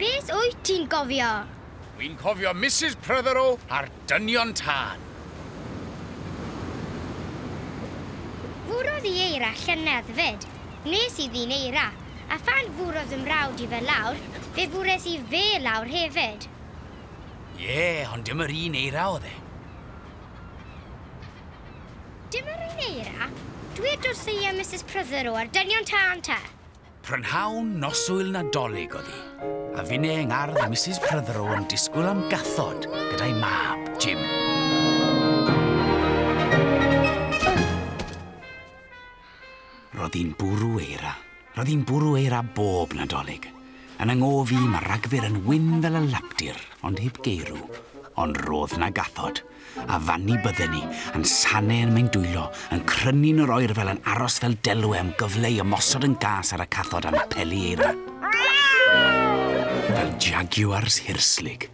Beth wyt ti'n gofio? Dwi'n cofio Mrs Prothero a'r dynion tân. Fwrodd i eira llynedd fyd. Nes i ddyn eira, a phan fwrodd fy mrawd i fe lawr, fe fwres i fe lawr hefyd. Ie, ond dim yr un eira oedd e. Dim yr un eira? Dwed wrtho i a Mrs Prydder o ar dynion tân ta. Prynhawn noswyl Nadolig oedd hi, a finne yng ngardd a Mrs Prydder o yn disgwyl am gathod gyda'i mab, Jim. Roedd hi'n bwrw eira. Roedd hi'n bwrw eira bob Nadolig. Yn 'y ngof i, mae Ragfyr yn wyn fel y lapdir, ond heb geirw. Ond roedd 'na gathod. A fanni bydden ni, yn sane yn mein dwylo, yn crynu'n yr oerfel yn aros fel delwe am gyfle i ymosod yn gas ar y cathod am peli eira. Fel Jaguars hirslig.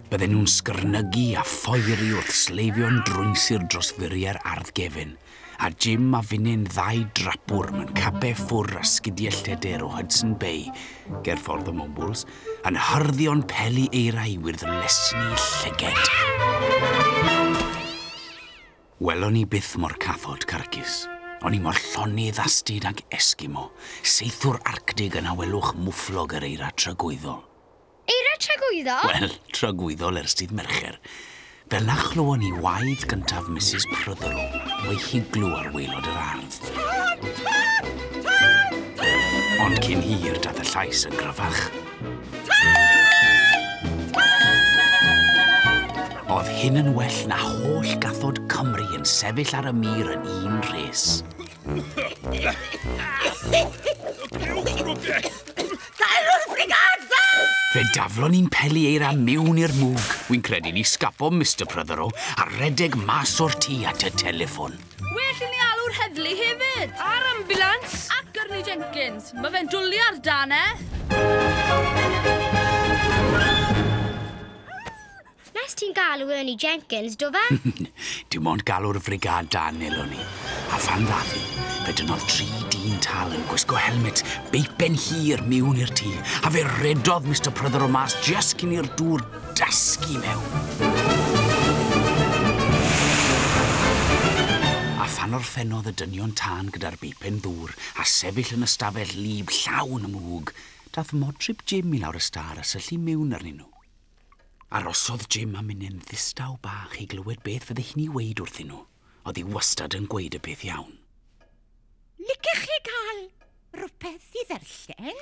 Bydden nhw'n sgyrnygu a phoeri wrth sleifio'n drwyn-sir dros furiau'r ardd gefyn, a Jim a finnyn ddau drapwr mewn cape ffwr a sgidiau lledr o Hudson Bay ger ffordd y Mwmbwls yn hyrddio'n peli eira i wyrdd lesni llyged. Welon ni byth mor cathod carcus. O'n i mor llonydd a stud ag Esgimo, seithwr Arctig yn awelwch mwfflog yr eira tragwyddol. Eira tragwyddol? Wel, tragwyddol ers dydd Mercher. Fel na chlywon ni waed gyntaf Misus Prothero o'i higlo ar waelod yr ardd. Tân! Tân! Tân! Tân! Ond cyn hir daeth y llais yn gryfach. Tân! Tân! Oedd hyn yn well na holl gathod Cymru yn sefyll ar y mur yn un rhes. Fe daflon ni'n peli eira miwn i'r mwg. Wy'n credu ni sgafo Mr Prothero a redeg mas o'r tŷ at y telefon. Well i ni alw'r heddlu hefyd. A'r ambulans. A Gyrni Jenkins. Mae fe'n dwlu ar dan e. Nest ti'n galw Ernie Jenkins, do fe? Dim ond galw'r frigâd dân elon ni. A phan ddath hi, fe dynnodd tri dyn tal yn gwisgo helmets beipen hir miwn i'r tŷ, a fe redodd Mister Pryder o mas jyst cyn i'r dŵr dasgu mewn. A phan orffennodd y dynion tân gyda'r beipen ddŵr a sefyll yn y stafell lib llawn y mwg, dath Modryb Jim i lawr y stâr a syllu miwn arnyn nhw. Arosodd Jim am munud yn ddistaw bach i glywed beth fydde hi'n ei weud wrthyn nhw. Oedd hi wastad yn gweud y peth iawn. Licech chi gael rhywbeth i ddarllen?